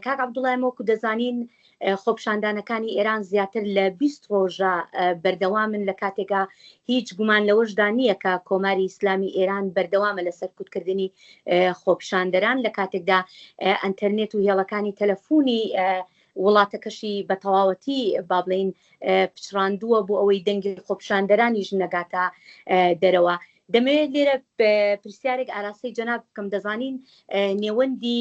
کاک عبدوڵای مۆکو دەزانین خۆپشاندانەکانی ئێران زیاتر لە 20 ڕۆژە بەردەوامن لە کاتێکا هیچ گومان لەوەشدا نییە کە کۆماری ئیسلامی ئێران بەردەوامە لە سەرکوتکردنی خۆپشاندەران لە کاتێکدا ئەتەرنێت و هێڵەکانی تەلەفۆنی وڵاتەکەشی بە تەواوەتی بابلین پچڕاندووە بۆ ئەوەی دەنگی خۆپشاندەرانیش نەگاتە دەرەوە دەمەوێت لێرە پرسیارێک ئاراسی جەناب بکەم دەزانین نێوەندی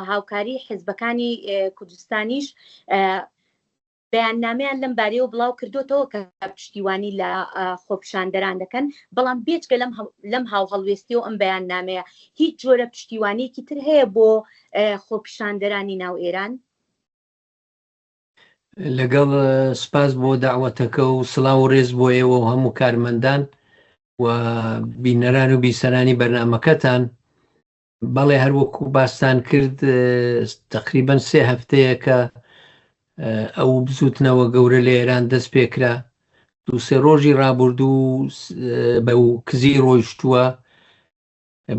هاوکاری حزبەکانی کوردستانیش بەیاننامیان لەم بارەیەوە بڵاو کردوتەوە کە پشتیوانی لە خۆپشاندەران دەکەن بەڵام بێچگە لەم لەم هاو هەڵوێستی و ئەم بەیان نامەیە هیچ جۆرە پشتیوانیکی تر هەیە بۆ خۆپشاندەرانی ناو ئێران لەگەڵ سپاس بۆ داوەتەکە و سلااو و ڕێز بۆ ئێوە و هەموو کارمەندان و بینەران و بیسەرانی بەرنمەکەتان بەڵێ هەروەکو باستان کرد تقریبن سێ هەفتەیە کە ئەو بزوتنەوە گەورە لە ئێران دەست پێکرا دووسێ ڕۆژی ڕابردوو بە و کزی ڕۆیشتووە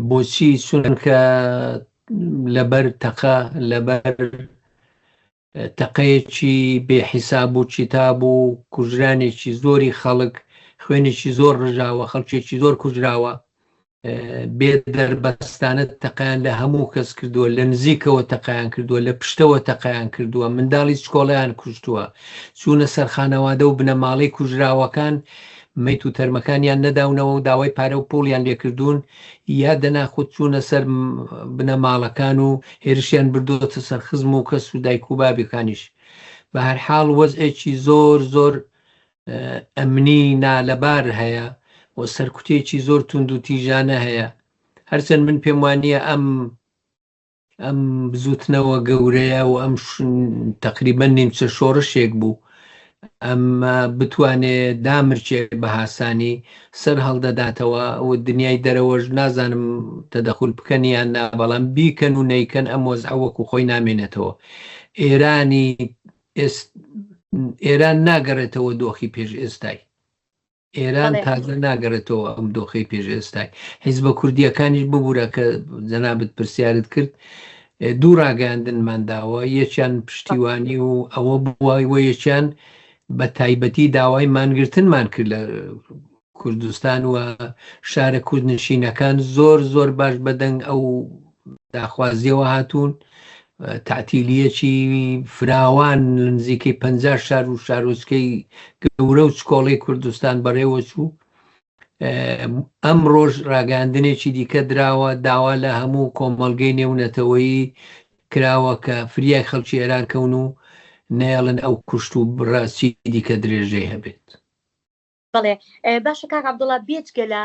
بۆچی چونکە لەبەر تەقە لەبەر تەقەیەکی بێحیساب و کتاب و کوژرانێکی زۆری خەڵک خوێنێکی زۆر ڕژاوە خەڵکێکی زۆر کوژراوە بێ دەربەستانە تەقیان لە هەموو کەس کردووە لە نزیکەوە تەقیان کردووە لە پشتەوە تەقیان کردووە منداڵی سکۆڵیان کوشتووە چوونە سەرخانەوادە و بنەماڵەی کوژراوەکان میت و تەرمەکانیان نەداونەوە و داوای پارە و پوڵیان لێکردوون یا دەنا خود چوونە سەر بنە ماڵەکان و هێرشیان بردووەتە سەر خزم و کەس و دایک و بابەکانیش بە هەر حاڵ وەزئێکی زۆر زۆر ئەمنی نالەبار هەیە و سەرکوتێکی زۆر توند و تیژانە هەیە هەرچەند من پێم وانە ئەم ئەم بزوتنەوە گەورەیە و ئەم تقریبا نیمچە شۆڕشێک بوو ئەمە بتوانێ دامرچێ بە هاسانی سەر هەڵدەداتەوە و دنیای دەرەوەش نازانم تەدەخول بکەنیان نا بەڵام بیکەن و نیکەن ئەم وەز ئەوەکو خۆی نامێنێتەوە ئێرانی ئێران ناگەڕێتەوە دۆخی پێش ئێستای ئێران بەڵێ تازە ناگەڕێتەوە ئەم دۆخی پێش ئێستای حیزبە کوردیەکانیش ببوورە کە جەنابت پرسیارت کرد اه، دوو ڕاگەاندنمان داوە یەکیان پشتیوانی و ئەوە بووای و یەکیان بە تایبەتی داوای مانگرتنمان کرد لە کوردستان و شارە کوردنشینەکان زۆر زۆر باش بەدەنگ ئەو داخوازیەوە هاتوون تعتیلیەکی فراوان نزیکەی پ شار و شارۆچکەی گەورە و چکۆڵی کوردستان بەڕێوە چوو ئەم ڕۆژ ڕاگەاندنێکی دیکە دراوە داوا لە هەموو کۆمەلگەی نێونەتەوەیی کراوە کە فریای خەڵکی ئێران کەون و نێڵن ئەو کوشت و بڕاستی دیکە درێژەی هەبێت بەڵێ باشە کاک عبدڵا بێجگە لە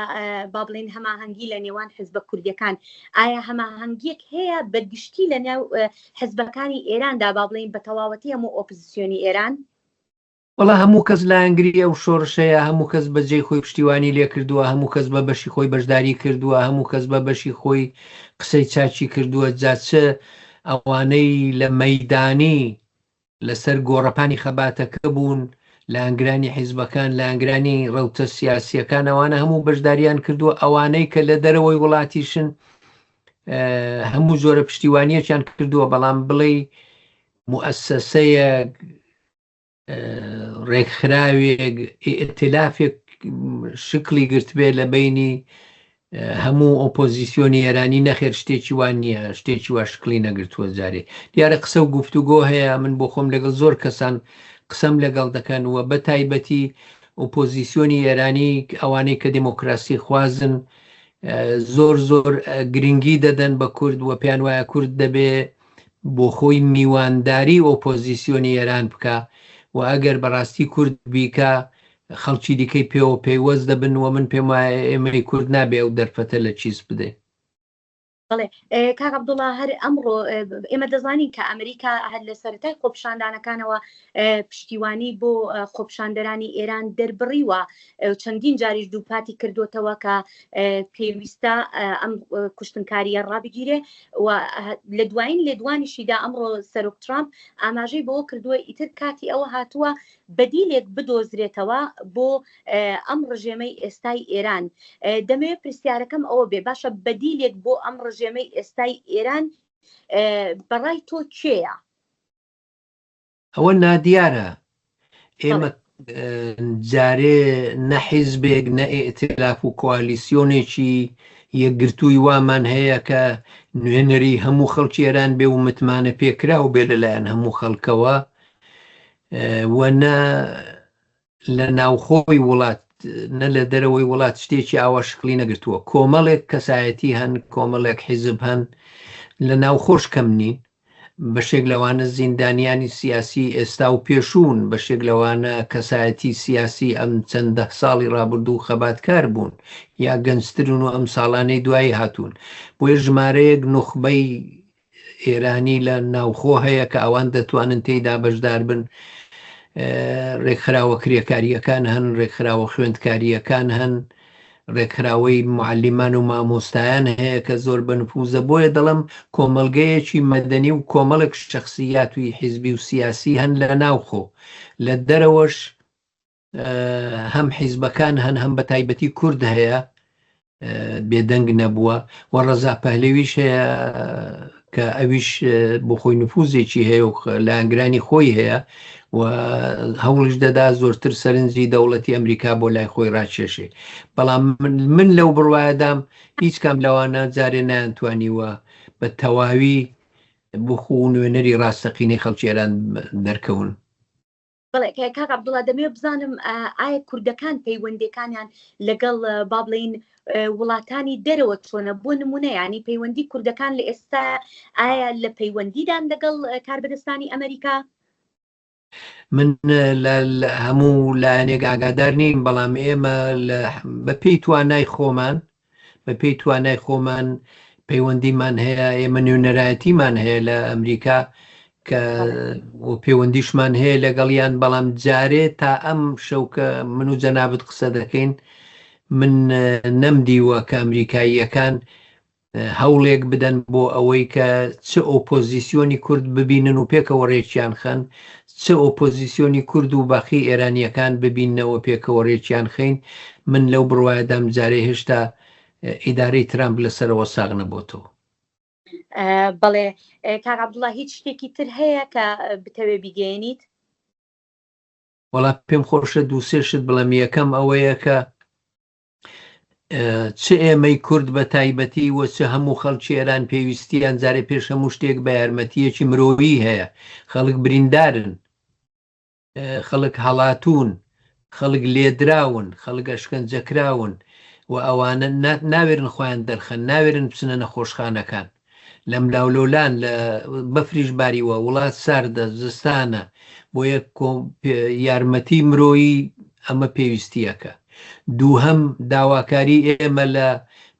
با بڵێن هەماهەنگی لە نێوان حزبە کوردیەکان ئایا هەماهەنگیەک هەیە بە گشتی لە ناو حزبەکانی ئێراندا با بڵین بە تەواوەتی هەموو ئۆپزیسیۆنی ئێران وڵا هەموو کەس لایەنگری ئەو شۆرشەیە هەموو کەس بەجێ خۆی پشتیوانی لێ کردووە هەموو کەس بە بەشی خۆی بەشداری کردووە هەموو کەس بە بەشی خۆی قسەی چاچی کردووە جاچە ئەوانەی لە مەدانی لەسەر گۆڕەپانی خەباتەکە بوون لایەنگرانی حیزبەکان لایەنگرانی ڕەوتە سیاسیەکان ئەوانە هەموو بەشداریان کردووە ئەوانەی کە لە دەرەوەی وڵاتیشن هەموو جۆرە پشتیوانیەکیان کردووە بەڵام بڵێ موسسەیە ڕێکخراوێک ئتلافێک شکلی گرتبێ لە بینی هەموو ئۆپۆزیسیۆنی ئێرانی نەخێر شتێکی وان نییە شتێکی وا شکلی نەگرتووە جارێ دیارە قسە و گفتوگۆ هەیە من بۆ خۆم لەگەڵ زۆر کەسان قسەم لەگەڵ دەکەن وە بە تایبەتی ئۆپۆزیسیۆنی ئێرانی ئەوانەی کە دموکراسی خوازن زۆر زۆر گرنگی دەدەن بە کورد و پێیان وایە کورد دەبێ بۆ خۆی میوانداری ئۆپۆزیسیۆنی ئێران بکە و ئەگەر بەڕاستی کورد بیکە خەڵکی دیکەی پێوە پەیوەست دەبن و من پێم وایە ئێمەی کورد نابێ ئەو دەرفەتە لە چیس بدەین. بەڵێ کاک عەبدوڵا هەر ئەمڕۆ ئێمە دەزانین کە ئەمریکا هەر لە سەرەتای خۆپیشاندانەکانەوە پشتیوانی بۆ خۆپیشاندەرانی ئێران دەربڕیوە چەندین جاریش دووپاتی کردوتەوە کە پێویستە ئەم کوشتنکاریە ڕابگیرێ و لە دوایین لێدوانیشیدا ئەمڕۆ سەرۆک ترامپ ئاماژەی بۆ کردووە ئیتر کاتی ئەوە هاتووە بەدیلێک بدۆزرێتەوە بۆ ئەم ڕژێمەی ئێستای ئێران. دەمەوێت پرسیارەکەم ئەوە بێ باشە بەدیلێک بۆ ئەم ڕژێمەی ئێستای ئێران بەڕای تۆ کێیە؟ ئەوە نادیارە ئێمە جارێ نە حیزبێک نە ئێتلاف و کوالیسیۆنێکی یەکگرتووی وامان هەیە کە نوێنەری هەموو خەڵکی ئێران بێ و متمانە پێکرا و بێ لەلایەن هەموو خەڵکەوە و نە لە ناوخۆی وڵات نە لە دەرەوەی وڵات شتێکی ئاوا شکلی نەگرتووە کۆمەڵێک کەسایەتی هەن کۆمەڵێک حیزب هەن لە ناوخۆش کەم نین بەشێک لەوانە زیندانیانی سیاسی ئێستا و پێشوون بەشێک لەوانە کەسایەتی سیاسی ئەم چەندە ساڵی رابردوو خەباتکار بوون یا گەنجترون و ئەم ساڵانەی دوایی هاتوون بۆیە ژمارەیەک نوخبەی ئێرانی لە ناوخۆ هەیە کە ئەوان دەتوانن تێیدا بەشدار بن ڕێکخراوە کرێکاریەکان هەن ڕێکخراوە خوێندکاریەکان هەن ڕێکخراوەی معلیمان و مامۆستایان هەیە کە زۆر بەنفوزە بۆیە دەڵم کۆمەلگەیەکی مەدەنی و کۆمەڵک شخصیاتوی حیزبی و سیاسی هەن لە ناوخۆ لە دەرەوەش هەم حیزبەکان هەن هەم بە تایبەتی کورد هەیە بێدەنگ نەبووە و ڕەزا پەهلەویش هەیە کە ئەویش بۆ خۆی نفوزێکی هەیە و لایەنگرانی خۆی هەیە و هەوڵش دەدا زۆرتر سەرنجی دەوڵەتی ئەمریکا بۆ لای خۆی ڕاکێشێ بەڵام من لەو بڕواایەدام هیچ کام لەوانە جارێ نانتوانیوە بە تەواوی بخو نوێنەری ڕاستەقینەی خەڵکی ئێران دەرکەون بەڵێ کاک عبدڵا دەمێ بزانم ئایا کوردەکان پەیوەندەکانیان لەگەڵ با بڵین وڵاتانی دەرەوە چۆنە بۆ نمونە ینی پەیوەندی کوردەکان لە ئێستا ئایا لە پەیوەندیدان لەگەڵ کاربدەستانی ئەمریکا من هەموو لایەنێک ئاگادار نیم بەڵام ئێمە بەپی توانای خۆمان بە پێی توانای خۆمان پەیوەندیمان هەیە ئێمە نوێنەرایەتیمان هەیە لە ئەمریکا کە پەیوەندیشمان هەیە لەگەڵیان بەڵام جارێ تا ئەم شەوکە من و جەنابەت قسە دەکەین من نەمدیوە کە ئەمریکاییەکان هەوڵێک بدەن بۆ ئەوەی کە چ ئۆپۆزیسیۆنی کورد ببینن و پێکەوە ڕێکیان خەن چ ئۆپۆزیسیۆنی کورد و باقی ئێرانییەکان ببیننەوە پێکەوە رێکیان خەین، من لەو بڕوایەدام جارێ هێشتا ئیدارەی ترامپ لە سەرەوە ساغ نەبۆتەوە. بەڵێ کاک عەبدوڵا هیچ شتێکی تر هەیە کە بتەوێ بیگەیەنیت؟ وەڵا پێم خۆشە دوو سێ شت بڵێم یەکەم ئەوەیە کە چ ئێمەی کورد بە تایبەتی وە چ هەموو خەڵکی ئێران پێویستیان جارێ پێش هەموو شتێک بە یارمەتیەکی مرۆیی هەیە خەڵک بریندارن خەڵک هەڵاتون خەڵک لێدراون خەڵگە شکەنجەکراون و ئەوانە ناوێرن خۆیان دەرخەن ناوێرن بچنە نەخۆشخانەکان لەملاولۆلان لە بەفریش باریوە وڵات ساردە زستانە بۆیە یارمەتی مرۆیی ئەمە پێویستیەکە دووهەم داواکاری ئێمە لە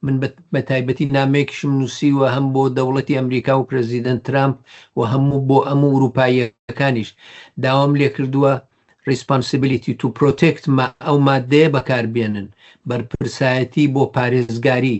من بە تایبەتی نامێکیشم نووسیوە هەم بۆ دەوڵەتی ئەمریکا و پرزیدنت ترامپ و هەموو بۆ ئەم و وروپاییەکانیش داوام لێکردووە ریسپانسیبلیتی تو پرۆتێکت ئەو مادەیە بەکاربێنن بەرپرسایەتی بۆ پارێزگاری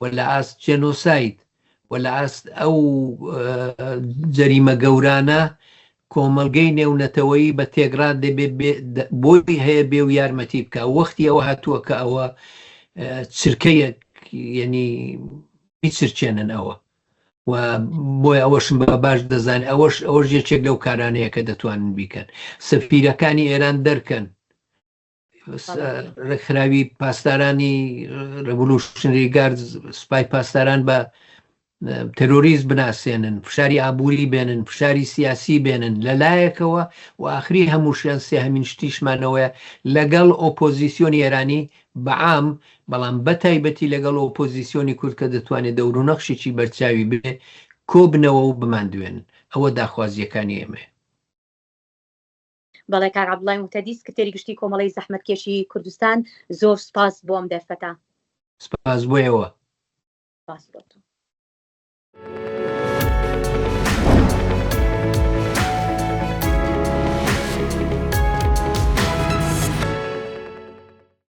و لە ئاست جێنۆساید و لە ئاست ئەو جەریمە گەورانە کۆمەلگەی نێونەتەوەیی بە تێگرا دەبێت بۆی هەیە بێ و یارمەتی بکە وەختی ئەوە هاتووە کە ئەوە چرکەیەک یعنی بیچرچێنن ئەوە و بۆی ئەوەشم بە باش دەزان ئەوەش ئەوەش یەکێک لەو کارانەیە کە دەتوانن بیکەن سەفیرەکانی ئێران دەرکەن ڕێکخراوی پاسدارانی ڕڤلوشنری گارد سپای پاسداران بە تەرۆریست بناسێنن فشاری ئابووری بێنن فشاری سیاسی بێنن لە لایەکەوە و ئاخری هەمووشیان سێ هەمین شتیشمانەوەە لەگەڵ ئۆپۆزیسیۆنی ئێرانی بەعام بەڵام بە تایبەتی لەگەڵ ئۆپۆزیسیۆنی کورد کە دەتوانێت دەورو نەخشیی بەرچاوی بێ کۆبنەوە و بماندوێن ئەوە داخوازیەکانی ئێمە بەڵێ کاک عەبدوڵای موهتەدی سکرتێری گشتی کۆمەڵەی زەحمەتکێشی کوردستان زۆر سوپاس بۆ ئەم دەرفەتە. سپاس بۆ ئێوە. سپاس بۆ تۆ.